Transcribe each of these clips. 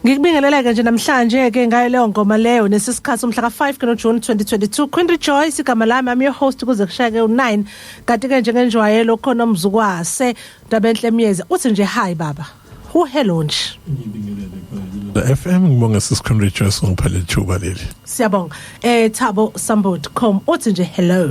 Ngikubingelele-ke nje namhlanje-ke ngayo leyo ngoma leyo nesi sikhathi umhla ka-5 ke noJuni 2022 Queen Rejoice igama lami I'm your host kuze kushayeke u-9 kanti-ke njengenjwayelo khona umzukwase Ndabenhle Myeza uthi nje hi baba Who hello nje? FM ngibonga sisikhulu rejoice ngiphele ithuba leli. Siyabonga. Eh Thabo Sambot com uthi nje hello.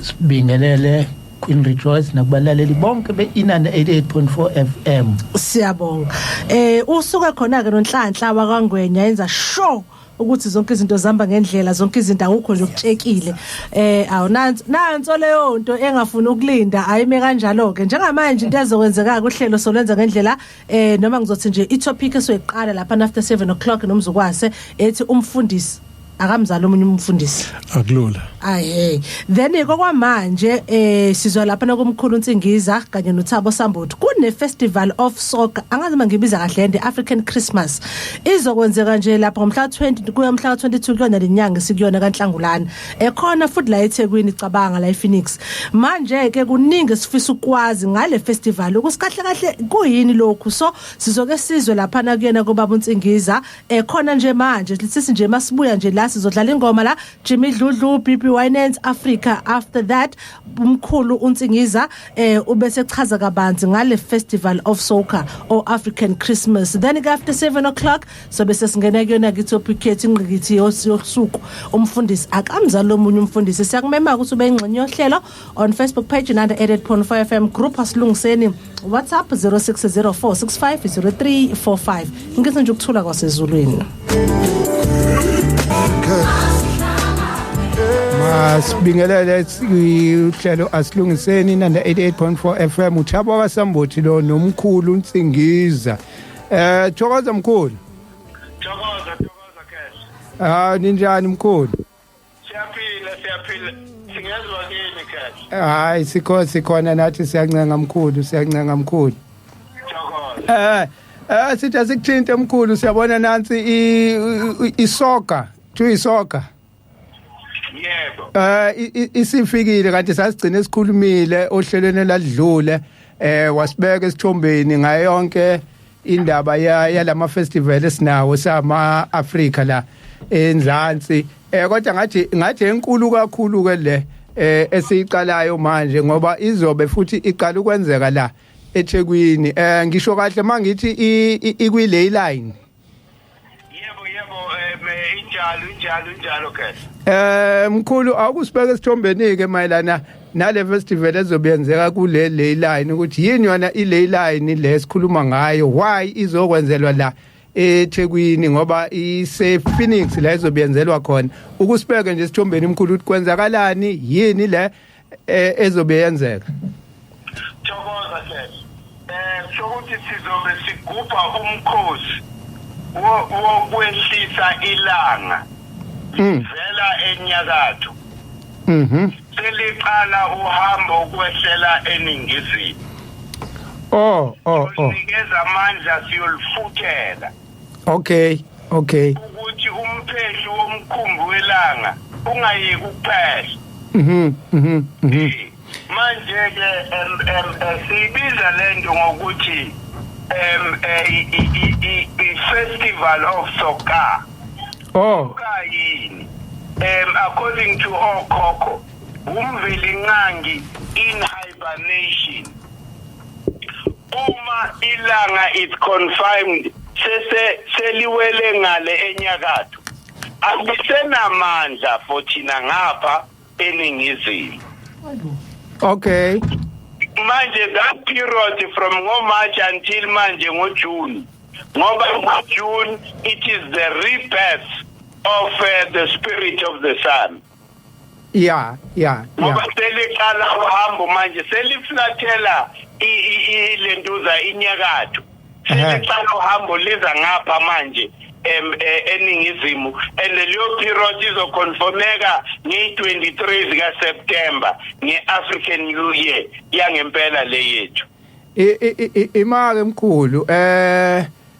Sibingelele Queen Rejoice nakubalaleli bonke beinana 88.4 FM. Siyabonga. Eh usuka khona ke nonhlanhla wakangwenya yenza show ukuthi zonke izinto zihamba ngendlela zonke izinto akukho nje okutshekile eh awu nansi nanso leyo nto engafuni ukulinda ayime kanjalo ke njengamanje into ezokwenzeka kuhlelo solwenza ngendlela eh noma ngizothi nje itopic esoyiqala lapha after 7 o'clock nomzukwase ethi umfundisi akamzali omunye umfundisi akulula ahe then kokwamanje eh sizwa lapha nakumkhulu uNsingiza kanye noThabo Sambuthi kune festival of soccer angazi mangibiza kahle the African Christmas izokwenzeka nje lapha ngomhla 20 kuya umhla 22 kuyona lenyanga sikuyona kaNhlangulana ekhona futhi la eThekwini cabanga la ePhoenix manje ke kuningi sifisa ukwazi ngale festival ukusikahle kahle kuyini lokhu so sizoke sizwe lapha na kuyena kobaba uNsingiza eh khona nje manje sisi nje masibuya nje la sizodlala ingoma la Jimmy Dludlu BB Winans Africa after that umkhulu uNsingiza eh ubese chaza kabanzi ngale Festival of Soca or African Christmas then after 7 o'clock so bese singena kuyona kithi opikhethi ingqikithi yosuku umfundisi akamzali omunye umfundisi siyakumema ukuthi ube ingxenye yohlelo on facebook page nanda edit porn 4 fm group asilungiseni whatsapp 0604650345 ngise nje ukuthula kwasezulwini masibingelele uhlelo asilungiseni nanda 88.4 fm uthabo wasambothi lo nomkhulu unsingiza eh thokoza mkhulu thokoza thokoza cash ah ninjani mkhulu siyaphila siyaphila singezwa kini kahle hayi sikho sikhona nathi siyancenga mkhulu siyancenga mkhulu eh eh sithi asikuthinte mkhulu siyabona nansi isoka kuthiwa isoka yebo eh isifikile kanti sasigcina sikhulumile ohlelweni ladlule eh wasibeka esithombeni ngayonke indaba yalama festival esinawo sama Africa la enzansi eh kodwa ngathi ngathi enkulu kakhulu ke le eh esiyiqalayo manje ngoba izobe futhi iqala ukwenzeka la eThekwini eh ngisho kahle mangithi ikwi ley line Yebo yebo eh injalo injalo injalo ke. Eh mkhulu awukusibeka esithombeni ke mayelana nale festival ezobenzeka kule ley line ukuthi yini yona i ley line le esikhuluma ngayo why izokwenzelwa la eThekwini ngoba ise Phoenix la izobiyenzelwa khona ukusibeke nje isithombeni mkhulu ukuthi kwenzakalani yini le eh, ezobe yenzeka thokoza ke eh sokuthi sizobe sigubha umkhosi wokwehlisa ilanga hmm. vela enyakatho mhm seliqala uhambo ukwehlela eningizimu oh oh oh sinikeza amandla siyolifuthela okay okay ukuthi umphehli womkhumbi welanga ungayeki ukuphehla mhm mhm, mhm. manje ke em em eh, sibiza lento ngokuthi em eh, i festival of soccer oh kayini em according to okhokho umveli nqangi in hibernation uma ilanga is confirmed sese seliwele ngale enyakatho akusenamandla for thina ngapha eningizimu okay manje that period from ngomarch until manje ngojune ngoba ngojune it is the rebirth of uh, the spirit of the sun ya ya ngoba seliqala uhambo manje seliflathela ilentuza inyakatho seliqala uhambo liza ngapha manje em e, eningizimu and leyo period izoconfirmeka nge-23 zika September nge-African New Year yangempela le yethu imali emkhulu eh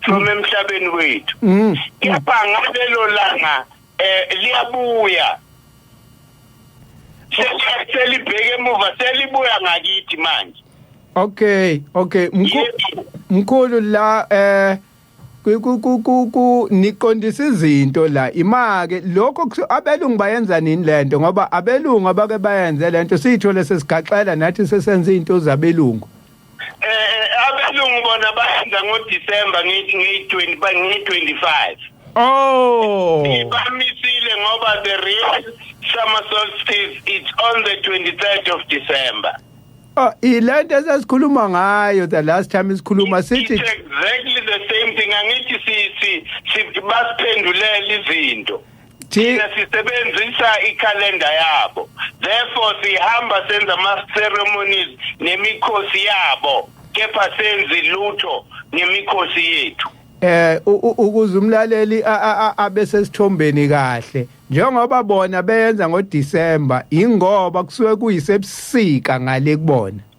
from emhlabeni wethu mm. kepha ngalelo langa eh liyabuya selibheke emuva selibuya ngakithi manje okay okay mkhulu la eh ku niqondisa izinto la imake lokho abelungu bayenza nini lento ngoba abelungu abake bayenze lento siyithole sesigaxela nathi sesenza izinto zabelungu eh abelungu bona bayenza ngo December ngithi ngi 20 ngi 25 oh ibamisile ngoba the real summer solstice it's on the 23rd of December Oh, ilento esasikhuluma ngayo the last time isikhuluma sithi exactly the same thing angithi si si siphendulele izinto thina sisebenzisa ikhalenda yabo therefore sihamba senza ama-ceremonies nemikhosi yabo kepha senzi lutho nemikhosi yethu eh ukuze umlaleli abe sesithombeni kahle njengoba bona beyenza ngoDecember ingoba kusuke kuyisebusika ngale kubona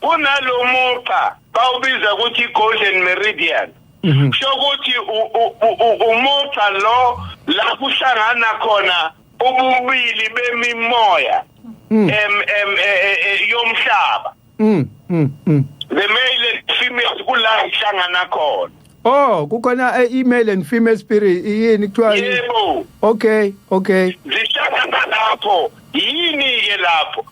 kunalo mugqa bawubiza ukuthi golden meridian mhm. kusho ukuthi umugqa lo la kuhlangana khona ububili bemimoya mm. em em e, e, e, yomhlaba mm, mm, the male and female kula ihlangana khona Oh, kukhona a e, male and female spirit yini kuthiwa Yebo. Okay, okay. Zihlangana lapho. Yini ke lapho?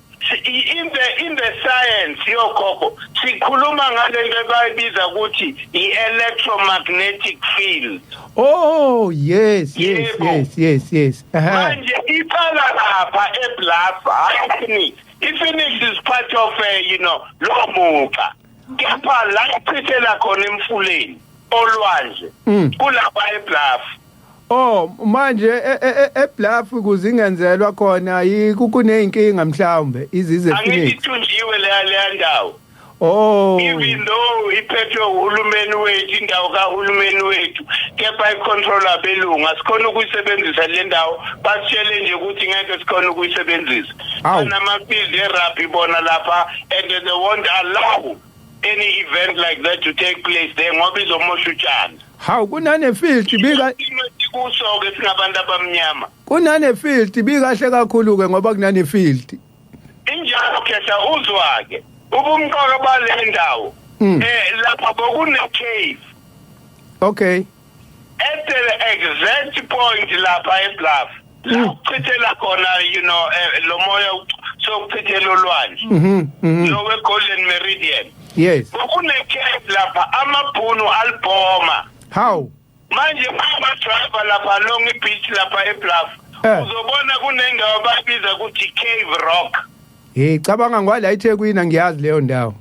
in the in the science yokhokho sikhuluma ngalento bayibiza ukuthi i-electromagnetic field oh yes yes yes yes yes manje iqala lapha eblasa hayi ifinix ifinix is part of uh, you know lo muca kepha la ichithela khona emfuleni olwandle mm. kulapha ebluff Oh manje e, e, e, ebluff kuzingenzelwa khona yikukuneyinkinga mhlawumbe izize finish Angithunjiwe le le ndawo Oh even though iphethwe uhulumeni wethu indawo kahulumeni wethu kepha icontrol abelungu asikhona ukuyisebenzisa le ndawo basitshele nje ukuthi ngeke sikhona ukuyisebenzisa Awu. banamabhizi erugby bona lapha and they won't allow any event like that to take place there ngoba izomosha utshani Hawu kunanefilti bika isimo esikuso-ke singabantu abamnyama kunanefilti bikahle kakhulu ke ngoba kunanefilti. injalo khehla uzwa-ke ubumqoka bale ndawo Mm. um lapha bokunecave Okay. at the exact point lapha ebluff la mm. uchithela khona you know eh, lo moya sokuchithela olwandle mhm, mhm. lo we golden meridian yes kune case lapha amabhunu albhoma how manje baba driver lapha long beach lapha ebluff eh. uzobona kunendawo babiza ukuthi cave rock hey cabanga ngwala eThekwini ngiyazi leyo ndawo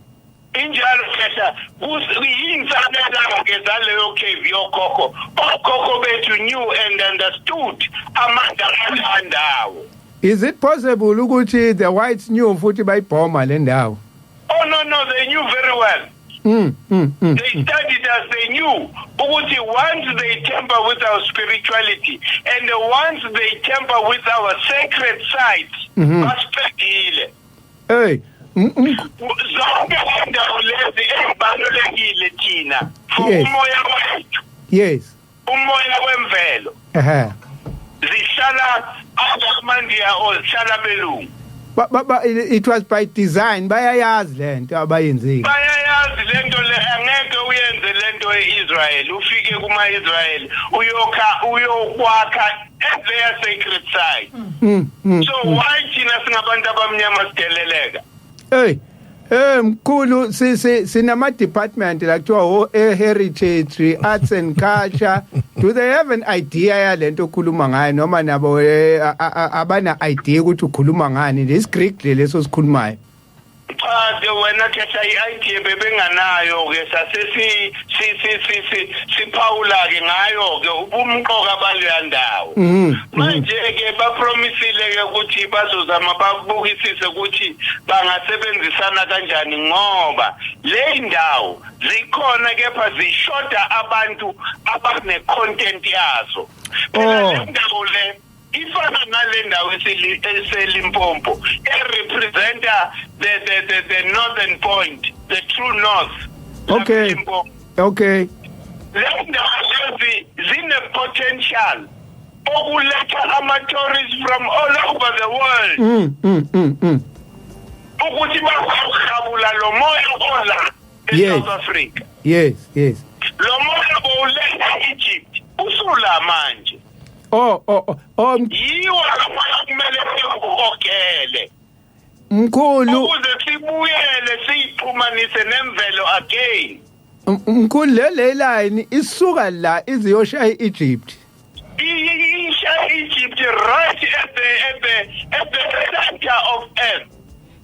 Injalo khehla yinsanelake zaleyo cave yokhokho okhokho bethu knew and understood amandla alandawo Is it possible ukuthi the whites knew futhi bayibhoma le ndawo Oh no no they knew very well Mm, mm, mm, they mm. studied us they knew ukuthi once they temper with our spirituality and once they temper with our sacred sites mm -hmm. basiphelile hey zonke lendawo lezi ezibalulekile thina for Yes. umoya wethu yes umoya wemvelo ehe zihlala abamandiya or zihlala belungu Ba- ba- ba- it was by design bayayazi lento abayenzile bayayazi lento le angeke uyenze lento e-israyeli ufike kuma-israyeli uyokha uyokwakha at their sacred site Mm, mm. so why thina singabantu abamnyama sideleleka Hey. Eh mkhulu si si sinama department la kuthiwa ho eh, heritage arts and culture do they have an idea yalento okhuluma ngayo noma nabo eh, a- a- a- abana idea ukuthi ukhuluma ngani this Greek leso sikhulumayo Cha wena khetha i-idea bebenganayo ke sase si si si si si siphawula ke ngayo ke ubumqoka baleya ndawo mm-hmm. manje ke bapromisile ke ukuthi bazozama babukisise ukuthi bangasebenzisana kanjani ngoba le ndawo zikhona kepha zishoda abantu abane content yazo phela oh. le ndawo le ifana nale ndawo eselimpompo erepresenta the, the, the, the northern point the true north okay okay le ndawo lezi zine-potential okuletha ama-tourists from all over the world mm, mm, mm, mm. ukuthi bazawuhabula lo moya ola e-south africa yes yes lo moya bowuletha egypt usula manje oh oh oh, oh m- yiwo akafana kumele sikukhokhele mkhulu ukuze sibuyele siyixhumanise nemvelo again m- mkhulu le le line isuka la iziyoshaya iEgypt isha egypt right at the at the at the center of earth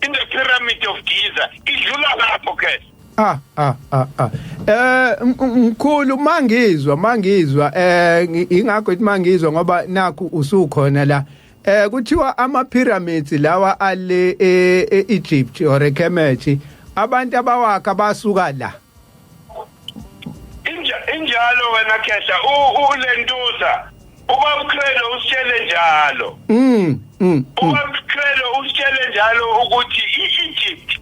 in the pyramid of giza idlula lapho ke Ah ah ah ah. Eh mkhulu mangizwa mangizwa eh ingakho ithi mangizwa ngoba nakhu usukhona la. Eh kuthiwa ama pyramids lawa ale e, e Egypt or eKemet abantu abawakha basuka la. Inja injalo wena Khehla ulentuza uba uKhelo usitshele njalo. Mm. mm, mm. Uba uKhelo usitshele njalo ukuthi iEgypt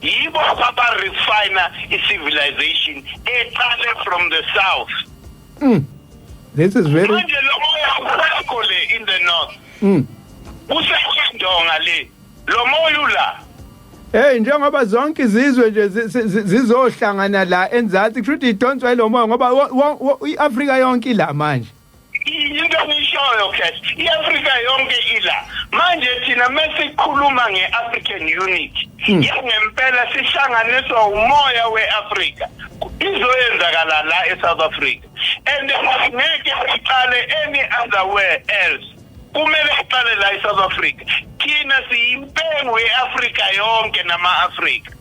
yibo abarefina i-civilization eqale from the south mm. this is very manje lo moya usekho le in the north mm. usekwendonga le lo moya ula Hey njengoba zonke izizwe nje zizohlangana la enzansi kusho ukuthi idonswa ilomoya ngoba iAfrika yonke ila manje into enishoyo cash iafrika yonke ila manje thina mesikhuluma nge-african unit hmm. yangempela sihlanganiswa umoya we-afrika izoyenzakala la e-south africa and ngeke siqale any other where else kumele siqale la e-south africa thina siyimpengu ye-afrika yonke nama-afrika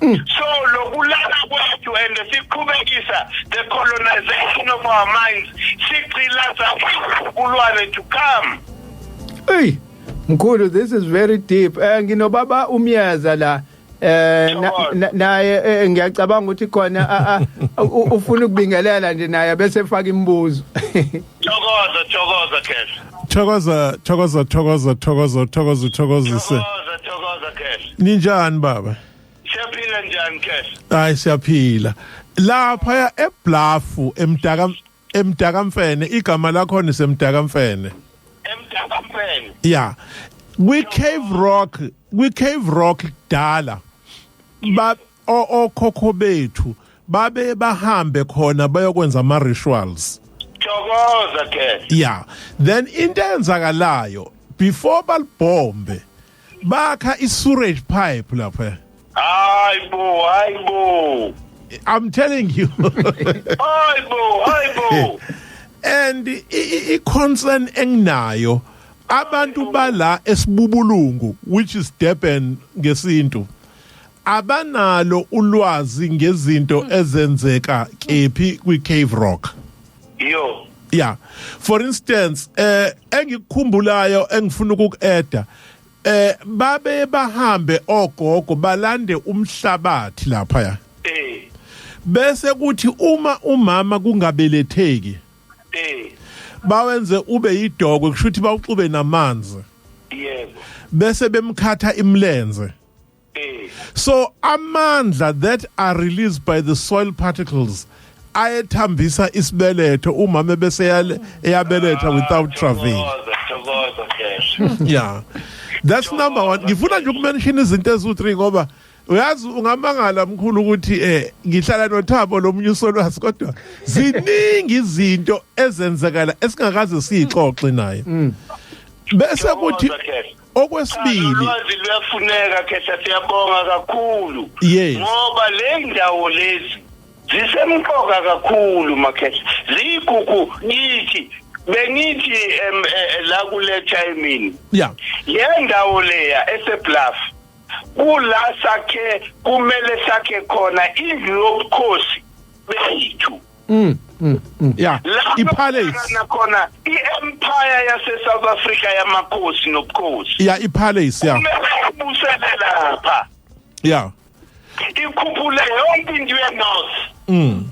Mm. so lokulala kwethu and siqhubekisa the colonization of our minds sigcilaza kulwane to come hey mkhulu this is very deep eh nginobaba umyaza la eh naye eh, ngiyacabanga ukuthi khona ufuna ukubingelela nje naye bese efaka imibuzo Thokoza thokoza Khehla. Thokoza thokoza thokoza thokoza thokoza thokozise. Thokoza thokoza Khehla. Ninjani baba? Siyaphila njani Khehla? Hayi siyaphila. Lapha eBlafu emdaka emdaka mfene igama lakho nisemdaka mfene. Emdaka mfene. Yeah. Kwi Cave Rock, kwi Cave Rock dala. Ba okhokho bethu babe bahambe khona bayokwenza ama rituals thokoza ke yeah then into enzakalayo before balibhombe bakha i sewage pipe lapha hayi bo hayi bo i'm telling you hayi bo hayi bo and i concern enginayo abantu bala esibubulungu which is Durban ngesintu abanalo ulwazi ngezinto ezenzeka kephi kwi Cave Rock yo yeah for instance eh engikukhumbulayo engifuna ukukueda eh babe bahambe ogogo balande umhlabathi lapha ya eh bese kuthi uma umama kungabeletheki eh bawenze ube yidokwe kushuthi bawuxube namanzi yebo bese bemkhatha imlenze Eh. so amandla that are released by the soil particles ayethambisa isibeletho umama bese yale- eyabeletha without travail Thokoza, thokoza, Jesu. yeah that's number one ngifuna nje ukumention izinto eziwu-three ngoba uyazi ungamangala mkhulu ukuthi eh ngihlala nothabo lomunye usolwazi kodwa ziningi izinto ezenzekala esingakaze siyixoxe naye bese kuthi Thokoza, Jesu. okwesibili ulwazi luyafuneka khehla siyabonga kakhulu yes. ngoba le ndawo lezi zisemqoka kakhulu makhehla ziyigugu kithi bengithi em, eh, eh, la kule chayimini ya le ndawo leya esebluff kula sakhe kumele sakhe khona indlu yobukhosi bethu Mm, mm, mm. Yeah. Ipalace nakhona iempire yase South Africa yamakhosi nobukhosi. Yeah, ipalace yeah. Ubuselela lapha. Yeah. Ikhuphule yonke into yeNorth. Mm.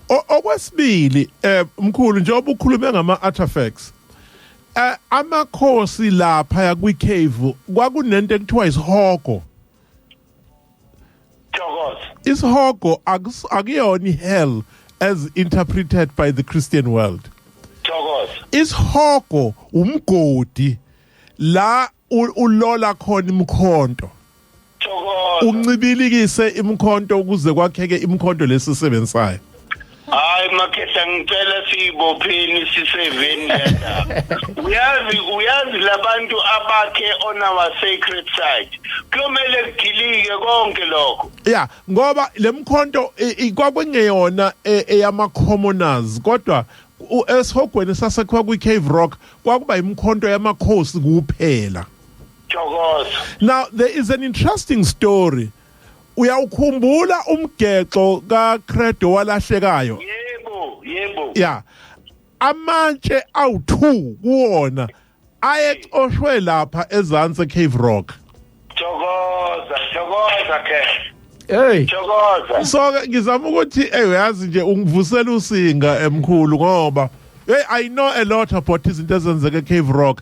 Okwesibili eh mkhulu nje obukhulume ngama artifacts. Eh amakhosi lapha yakwi cave kwakunento ekuthiwa isihogo. thokoza isihogo akus- akuyona i-hell as interpreted by the christian world thokoza isihogo umgodi la u- ulola khona imkhonto thokoza uncibilikise imkhonto ukuze kwakheke imkhonto lesisebenzisayo hayi makhehla ngicela siyibopheni siseveni lendaba uyazi uyazi labantu abakhe on our sacred side kuyomele kudilike konke lokho ya ngoba lemkhonto kwakwengeyona e, eyama commoners kodwa esihogweni sasekhiwa kwi Cave Rock kwakuba imkhonto yamakhosi kuphela Thokoza now there is an interesting story Uyawukhumbula umgexo kaCredo walahlekayo? Yebo, yebo. Yeah. Amatshe awu2 kuwona ayexoshwe lapha ezansi Cave Rock. Thokoza, thokoza ke. Hey. Thokoza. So ngizama ukuthi hey uyazi nje ungivusela usinga emkhulu ngoba Hey I know a lot about izinto ezenzeka eCave Rock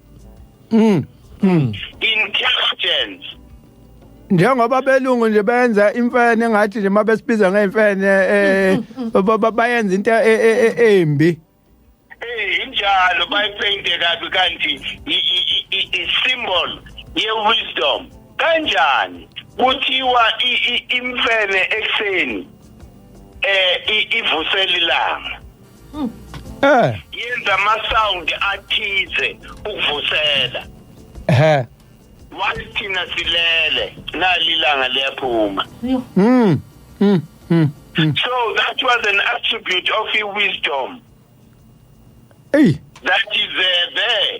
mm. Mm. intelligence njengoba belungu nje benza imfene ngathi nje mabesibiza ngeimfene eh bayenza into e, e, e, embi eh injalo bayipainte kabi kanti i symbol ye wisdom kanjani kuthiwa imfene ekseni eh ivusela ilanga Hmm. Eh. Yenza ama sound athize ukuvusela. Ehhe. Wathi thina silele nalilanga liyaphuma. Mm. Mm. Mm. So that was an attribute of wisdom. Hey. That is uh, there.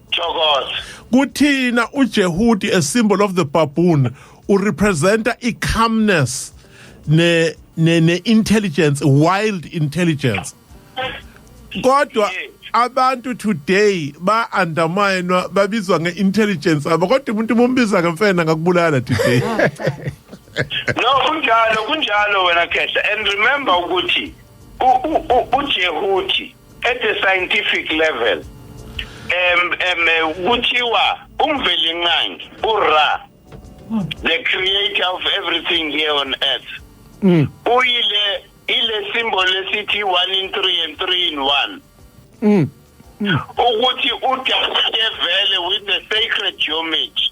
Thokoza. Kuthina uJehudi a symbol of the baboon urepresenta icalmness ne ne, ne intelligence wild intelligence. Kodwa abantu today ba undermine babizwa ngeintelligence abo kodwa umuntu umbiza ngemfena ngakubulala today. no kunjalo kunjalo wena khehla and remember ukuthi uJehudi at the scientific level um um eh, kuthiwa umvelinqangi ura hmm. the creator of everything here on earth mm. uyile ile symbol esithi 1 in 3 and 3 in 1 mm. mm. ukuthi udabule vele with the sacred geometry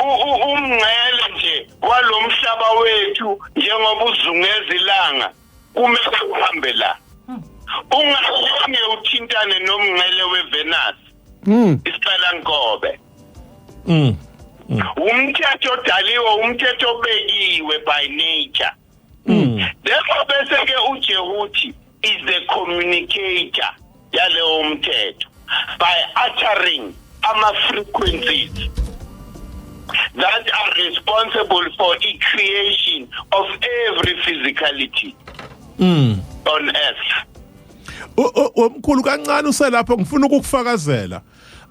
umngcele nje walomhlaba wethu njengoba uzungeza ilanga kumele uhambe la hmm. ungalinge uthintane nomngcele weVenus mm isicela nkobe mm umthetho odaliwe umthetho obekiwe by nature Mm. Therefore bese ke uJehuthi is the communicator yalewo mthetho by uttering ama frequencies that are responsible for the creation of every physicality mm. on earth omkhulu kancane uselapho ngifuna ukukufakazela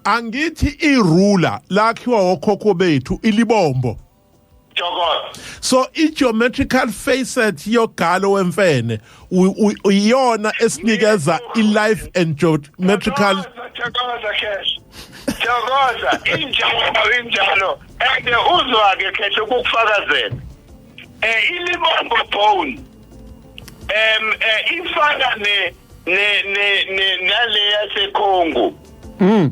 angithi irula lakhiwa okhokho bethu ilibombo Jokot. So i-geometrical facet yogalo wemfene iyona esinikeza i-life and geometrical Thokoza Khehla. Thokoza injalo injalo and uzwa ke Khehla ukufakazela. Eh ilibombo bone. Em eh ifana ne ne ne naleya seKhongo. Mm.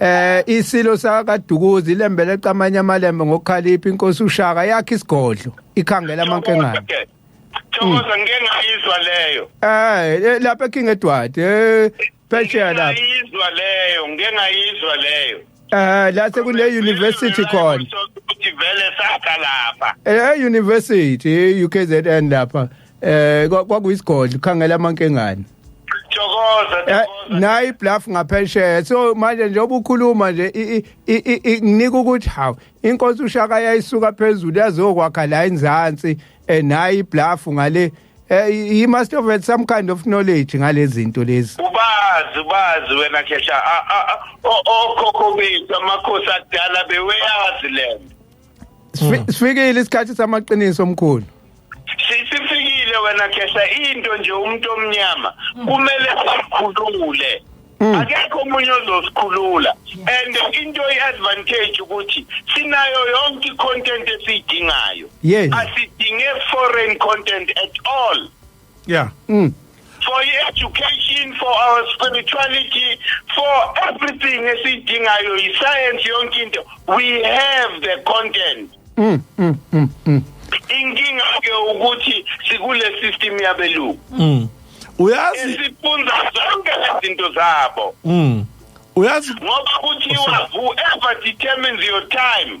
Eh isilo sakaDukuzi lembele camanye amalembe ngokukhalipha inkosi uShaka yakhe isigodlo ikhangela amankengane. Thokoza ngeke ngayizwa leyo. Eh, eh lapha eKing Edward eh phesheya lapha. Ngiyizwa leyo, ngeke ngayizwa leyo. Eh la sekune university khona. Ukuthi vele sakha lapha. Eh university UKZN lapha. Eh kwakuyisigodlo khangela amankengane. Thokoza eh, thokoza. Nayi bluff ngaphesheya. So manje nje obukhuluma nje nginika ukuthi hawu inkosi ushaka yayisuka phezulu yazokwakha la inzansi eh nayi bluff ngale eh, he must have had some kind of knowledge ngalezinto lezi ubazi ubazi wena khesha okhokho bethu amakhosi akudala beweyazi lento Sifi- Sifikile isikhathi samaqiniso omkhulu. sisifikile wena khehla into nje umuntu omnyama kumele sikhulule Mm. akekho omunye ozosikhulula and into i-advantage ukuthi sinayo yonke i-content esiyidingayo Yes. asidinge foreign content at all yeah mm. for education for our spirituality for everything esiyidingayo yi-science yonke into we have the content mm, mm, mm, mm. inkinga ke ukuthi sikule system yabelungu mm. uyazi esifunza zonke lezinto zabo mm. uyazi ngoba kuthiwa whoever determines your time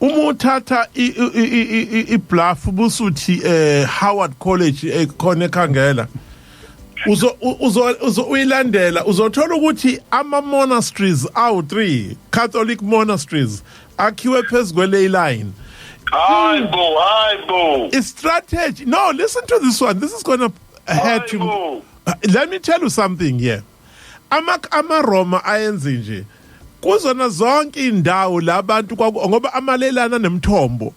uma uthatha ibluff busuthi eh Howard College ekhona eh, ekhangela uzo uzo uyilandela uzothola ukuthi ama monasteries awu 3 Catholic monasteries akhiwe phezukwe ley line hayi bo hayi bo i strategy no listen to this one this is going to hurt you let me tell you something here Amak amaRoma ayenze nje kuzona zonke indawo labantu ngoba amalelana nemthombo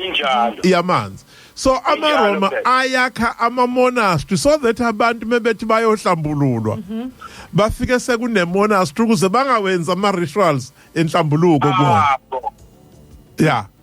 injalo yamanzi so amaroma ayakha amamonastery so that abantu mebethi bayohlambululwa mhm. bafike sekunemonastery ukuze bangawenza ama-rituals enhlambuluko kuwo ya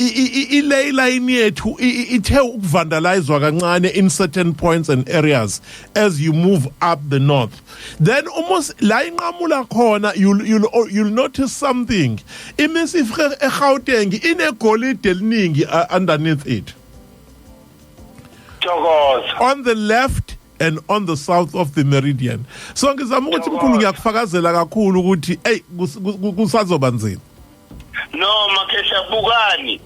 ilay line yethu ithe ukuvandalizwa kancane in certain points and areas as you move up the north then uma la inqamula khona you'll, you'll, oh, you'll notice something imisif egauteng inegolide eliningi uh, underneath it on the left and on the south of the meridian so ngizama ukuthi mkhulu ngiyakufakazela kakhulu ukuthi eyi kusazoba nzima no makhehla bukani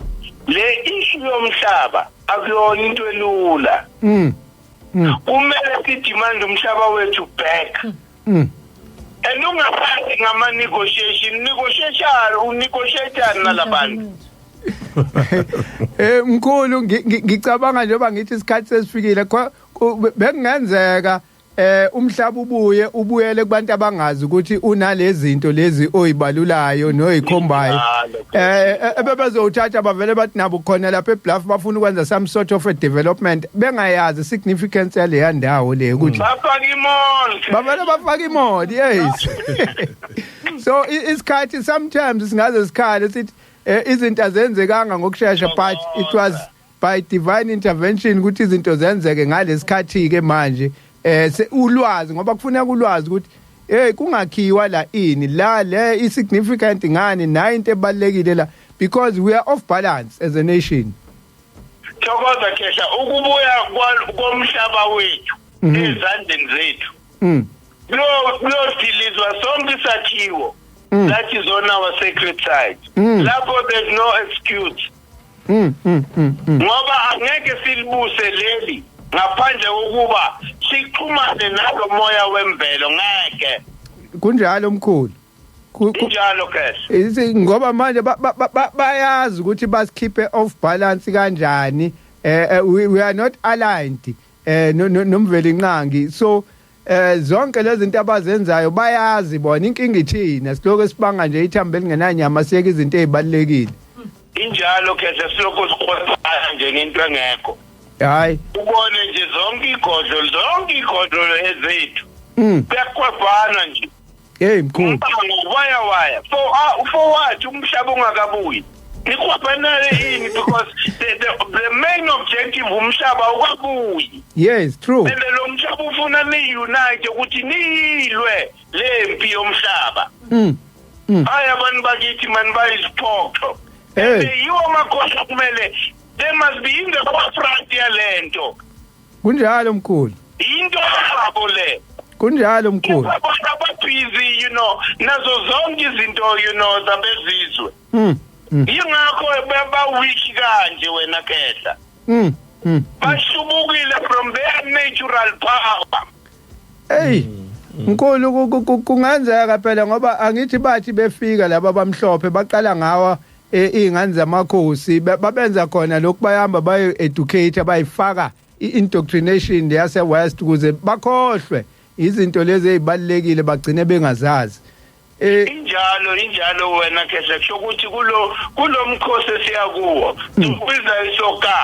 le issue yomhlaba akuyona into elula mm. mm. kumele sidemand umhlaba wethu back mm. mm. and ungasazi ngama-negotiation negotiation unegotiatani nalabantu mm. eh mkhulu ngicabanga njengoba ngithi isikhathi sesifikile bengenzeka Eh umhlaba ubuye ubuyele kubantu abangazi ukuthi unalezinto lezi oyibalulayo noyikhombayo. Eh, eh ebebezowuthatha bavele bathi nabo khona lapha eBluff bafuna ukwenza some sort of a development bengayazi significance yaleya ndawo le ukuthi mm. bafaka imall. Bavele bafaka imall yes. So isikhathi sometimes singaze sikhale sithi eh, izinto azenzekanga ngokusheshsha but it was by divine intervention ukuthi izinto zenzeke ngalesikhathi ke manje eh ulwazi ngoba kufuneka ulwazi ukuthi hey kungakhiwa la ini la le i significant ngani nayo into ebalekile la because we are off balance as a nation thokoza khehla ukubuya komhlaba wethu mhm. ezandleni zethu mhm. lo lo dilizwa sonke isakhiwo mm. that is on our sacred side mm. lapho there's no excuse Mm, mm, mm, mm. ngoba angeke silibuse leli ngaphandle kokuba sixhumane nalo moya wemvelo ngeke kunjalo mkhulu Ku- ku- injalo kes Isi- ngoba manje ba- ba- ba- ba- bayazi ukuthi basikhiphe off balance kanjani eh eh, we, we are not aligned eh no- no- nomveli nqangi so Eh zonke lezi zinto abazenzayo bayazi bona inkinga ithina siloko sibanga nje ithambo elingenanyama siyeke izinto ezibalekile. Injalo khehla siloko sikhosana nje ngento engekho. Hayi. Ubone nje zonke igodlo zonke igodlo ezethu. Mm. Kuyakwabana nje. Hey mkhulu. Umbango waya waya. For uh, for what umhlaba ungakabuyi. Nikhwabanale yini because the, the the main objective umhlaba ukabuyi. Yes, true. And lo mhlaba ufuna ni unite ukuthi nilwe lempi yomhlaba. Mm. Mm. Hayi abantu bakithi man bayiziphoxo. Hey. Yiwo amakhosi kumele they must be in the forefront yalento. Kunjalo mkhulu. Into yabo le. Kunjalo mkhulu. Abantu ababhizi you know nazo zonke izinto you know zabezizwe. Mm. mm. Yingakho baba weak kanje wena kehla. Mm. mm. Bashubukile from their natural power. Hey. Mm. mkhulu kungenzeka phela ngoba angithi bathi befika laba bamhlophe baqala ngawa e, iy'ngane zamakhosi ba- babenza khona lokhu bayihamba bayi-educate bayifaka i-indoctrination yase-west ukuze bakhohlwe izinto lezi ey'balulekile bagcine bengazazi Eh, injalo injalo wena khehla kusho ukuthi kulo kulomkhosi esiya kuwo sibiza isoka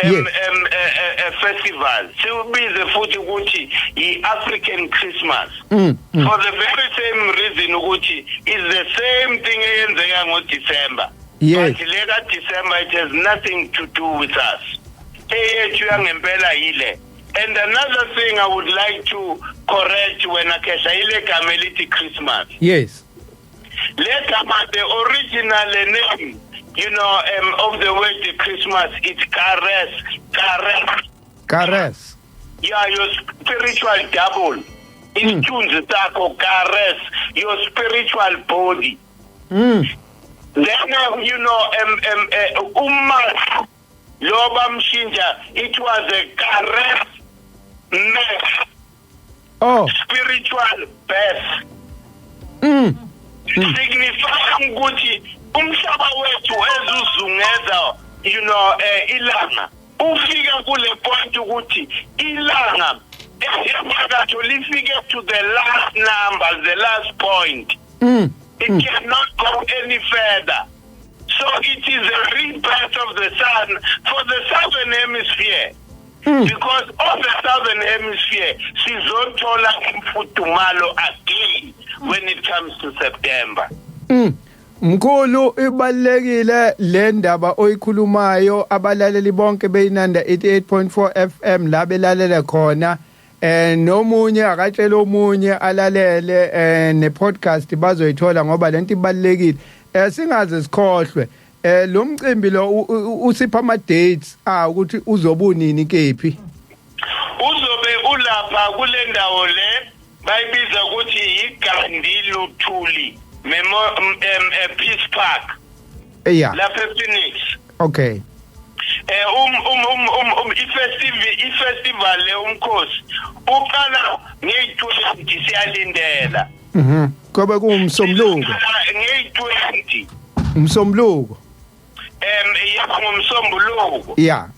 em Yes. em eh, eh, eh, festival siwubize futhi ukuthi i-African Christmas Mm, mm. for the very same reason ukuthi is the same thing eyenzeka ngo-December Yes. but le ka-December it has nothing to do with us eyethu yangempela yile and another thing I would like to correct wena Khehla ile gama elithi Christmas yes legama the original name you know um, of the word the christmas it's kares kares kares yeah your spiritual double isithunzi mm. sakho kares your spiritual body mm. then uh, you know um, um, uh, uma lo bamshintsha it was a kares mess oh spiritual birth mm signifya ukuthi umhlaba wethu ezuzungeza you know eh, ilanga ufika kule point ukuthi ilanga enyakatho lifike to the last number the last point mm. it mm. cannot go any further so it is a rebirth of the sun for the southern hemisphere hmm. because all the southern hemisphere sizothola imfudumalo again when it comes to September mm. Mkhulu ibalekile le ndaba oyikhulumayo abalaleli bonke beyinanda 88.4 FM la belalele khona eh nomunye akatshela omunye alalele eh ne podcast bazoyithola ngoba lento ibalekile eh singaze sikhohlwe Eh lo mcimbi lo usipha ama dates ah ukuthi uzobunini kephi. Uzobe ulapha kule ndawo le bayibiza ukuthi yiGandhi Luthuli Memo um, eh, Peace Park. Yeah. Lapha ePhoenix. Okay. eh um um um um, um ifestival ifestival le umkhosi uqala nge-20 siyalindela Mhm. Kobe kuwumsombuluko. Ngeyi-20. Umsombuluko. Em yes ngomsombuluko. Yeah.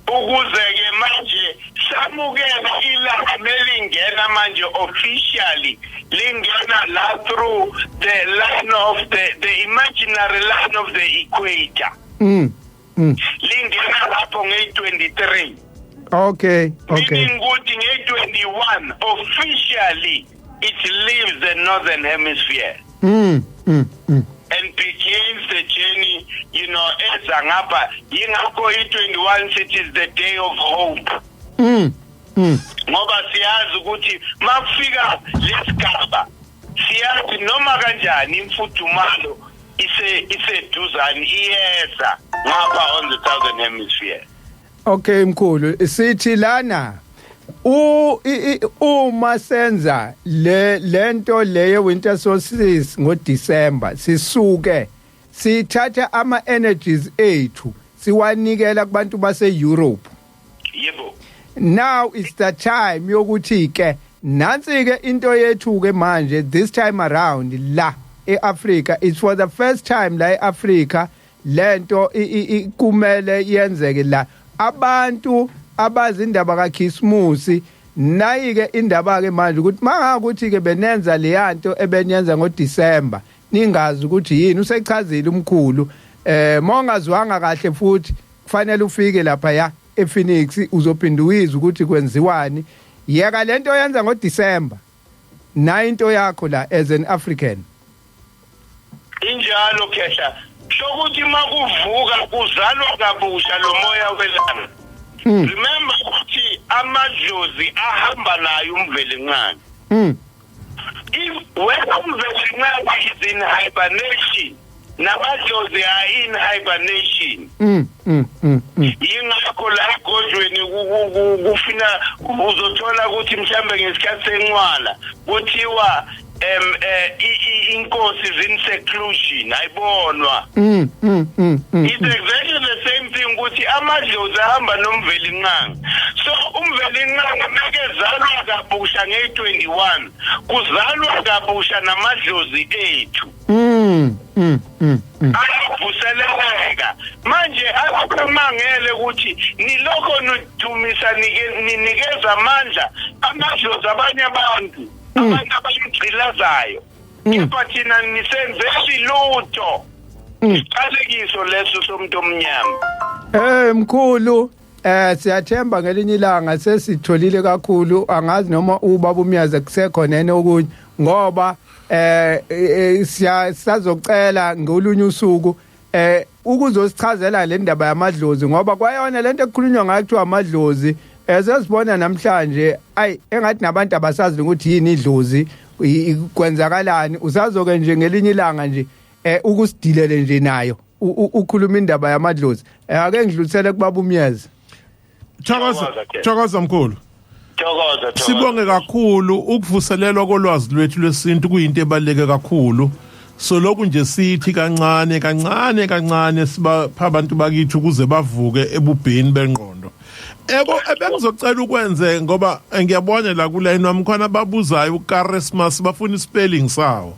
Ukuze ke manje samukela ilanga belingena manje officially lingena la through the line of the the imaginary line of the equator. Mm. Mm. lingena lapho ngeyi-23 okay okay meaning ukuthi ngeyi-21 officially it leaves the northern hemisphere mm, mm, mm. and begins the journey you know eza ngapha yingakho i-21 sithi is the day of hope mm, mm. ngoba siyazi ukuthi makufika lesigaba siyazi noma kanjani imfudumalo ise iseduzane iyeza ngapha on the southern hemisphere Okay mkhulu sithi lana u i- i- uma senza le lento leye winter solstice ngo December sisuke sithatha ama energies ethu siwanikela kubantu base Europe yebo now it's the time yokuthi ke nansi ke into yethu ke manje this time around la eAfrica it's for the first time la eAfrica lento kumele yenzeke la abantu abazi indaba kaKhisimusi nayike indaba ke manje ukuthi mangakuthi ke benenza leyanto ebenyenza ngoDecember ningazi ukuthi yini usechazile umkhulu eh mongazwanga kahle futhi kufanele ufike lapha ya ePhoenix uzophinda uyizwe ukuthi kwenziwani yeka lento yenza ngoDecember na into yakho la as an African injalo khehla sokuthi makuvuka kuzalwa kabusha lo moya welanga hmm. remember ukuthi amadlozi ahamba nayo umvelincane hmm. Wena umveli nqaba is in hibernation namadlozi are in hibernation mm, mm, mm, mm. yingakho la egodlweni kufina uzothola ukuthi mhlambe ngesikhathi senqwala kuthiwa em eh, inkosi is in seclusion ayibonwa mm, mm, mm, mm, it's mm. exactly the same thing ukuthi amadlozi ahamba nomveli nqanga so umvelinqangi mekezalwa kabusha ngeyi-21 kuzalwa kabusha namadlozi ethu mm, mm, mm, mm. ayavuseleleka manje akumangele ukuthi nilokho nidumisa ninikeza amandla amadlozi abanye abantu mm. abantu abayigcilazayo mm. kepha thina nisenzeli lutho mm. isiqalekiso leso somuntu omnyama Eh mkhulu Eh siyathemba ngelinye ilanga sesitholile kakhulu angazi noma ubaba umyazi kusekhona yena okunye ngoba eh, eh, eh siya sazocela ngolunye usuku eh ukuzosichazela le ndaba yamadlozi ngoba kwayona lento ekukhulunywa ngayo kuthiwa amadlozi esesibona eh, namhlanje ayi engathi nabantu abasazi ukuthi yini idlozi kwenzakalani usazoke nje ngelinye ilanga nje eh ukusidilele nje nayo ukhuluma indaba yamadlozi eh, ake ngidlulisele kubaba umyeza thokoza thokoza mkhulu thokoza sibonge kakhulu ukuvuselelwa kolwazi lwethu lwesintu kuyinto ebaluleke kakhulu so lokhu nje sithi kancane kancane kancane sibapha abantu bakithi ukuze bavuke ebubheni bengqondo eko ebengizocela ukwenze ngoba ngiyabona la kulayini wami khona babuzayo ukarismas bafuna ispelling sawo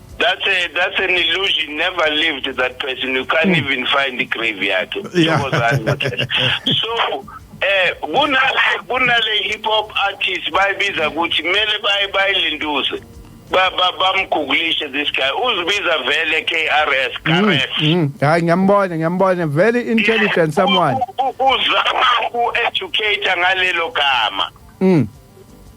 That's a that's an illusion. Never lived that person. You can't hmm. even find the grave yakhe. Yeah. so eh kunale kunale hip hop artist bayibiza ukuthi kumele baye bayilinduze bamguglishe this guy uzibiza vele KRS KRS mm, mm. hayi ngiyambona ngiyambona very intelligent someone uzama ku educate ngalelo gama mm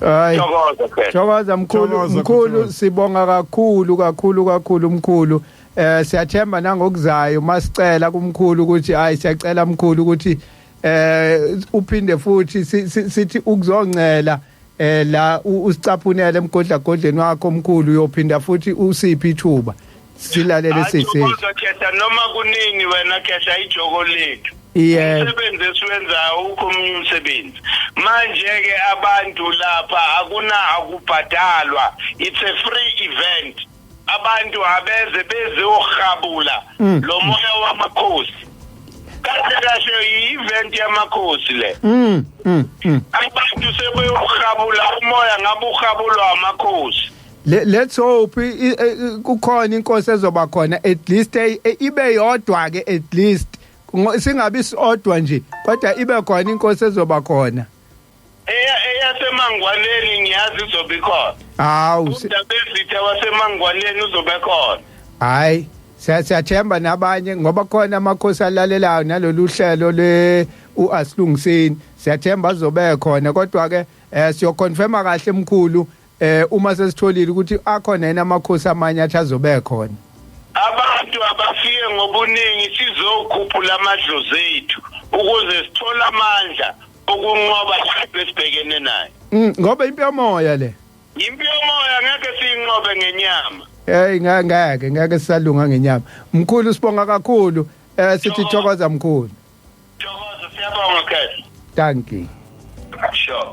Hayi. Thokoza phela. Thokoza mkhulu Thokoza, mkhulu Thokoza. sibonga kakhulu kakhulu kakhulu mkhulu. Eh siyathemba nangokuzayo masicela kumkhulu ukuthi hayi siyacela mkhulu ukuthi eh uphinde futhi si- si- sithi ukuzoncela eh la u- usicaphunele emgodlagodleni wakho mkhulu uyophinda futhi usiphi ithuba. silalele sisi kodwa khehla noma kunini wena khehla ijoko lethu yeah. umsebenzi esiwenzayo ukho omunye umsebenzi manje-ke abantu lapha akuna akubhadalwa it's a free event abantu abeze bezohabula mm. lo moya wamakhosi kahle kahle yi-event yamakhosi le mm, mm, abantu sebeyohabula umoya ngabe uhabulwa amakhosi Le- let's hope i- i- i- kukhona inkosi ezoba khona at least eh, eh, ibe yodwa ke at least Ngo- singabi sodwa nje kodwa ibe khona inkosi ezoba khona eya eyasemangwaneni ngiyazi izobe ikhona hawu si- udabezitha wasemangwaneni uzobe khona hayi siya- siyathemba nabanye ngoba khona amakhosi alalelayo nalolu hlelo le uasilungiseni siyathemba azobe khona kodwa ke eh siyoconfirma kahle mkhulu eh uma sesitholile ukuthi akhona yena amakhosi amanye athi azobe khona abantu abafike ngobuningi sizokhuphula amadlozi ethu ukuze sithole amandla okunqoba isipho esibhekene nayo mm, ngoba impi yomoya le impi yomoya ngeke siyinqobe ngenyama hey ngeke ngeke sisalunga ngenyama mkhulu sibonga kakhulu eh sithi thokoza mkhulu thokoza siyabonga khehla thank you sure